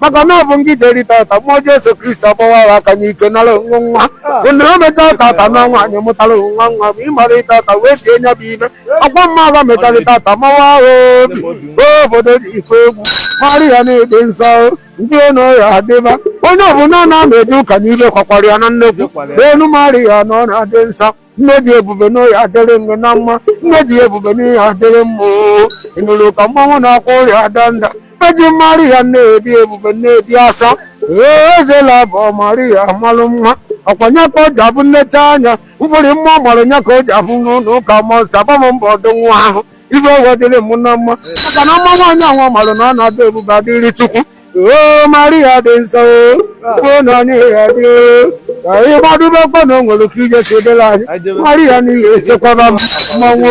maka na ọ bụ ngị jeri tata mụọ Jesu Kristi agbawara aka n'ike nara onwe nwa onye o meta tata na nwaanyị mụtara nwa nwa bụ ịmara tata wee sie nya bụ ime ọkwa mma agha metara tata mawa ahụ obi obodo dị ife egwu Maria nne dị nsọ ndị enu ya adịba onye ọbụla na-ama eje ụka n'ibe kwakwara ya na nnekwu enu Maria na ọ na-adị nsọ nne dị ebube na ọ ya-adịrị ngị na mma nne dị ebube n'ihe adịrị mma oo. ị nụrụ ka mmanwụ na-akwa ọrịa ada nda eji Maria nne dị ebube nne dị asọ ee ezela bụ ọ Maria malụ mma ọ kwa nya ka o ji abụ nleta anya mfụrị mma ọ mara nya ka o ji abụ n'ụlọ ụka mọ nsọ agba m mbọ ọdụ nwa ahụ ibe ụwa dịrị m na mma maka na mma nwaanyị anwa mara na ọ na-adị ebube adịrị chukwu o maria dị nsọ o na onye ya dị ka ị gbadubekwa na o nwere ka ije si dịla anyị maria n'ihi echekwaba m mmanwụ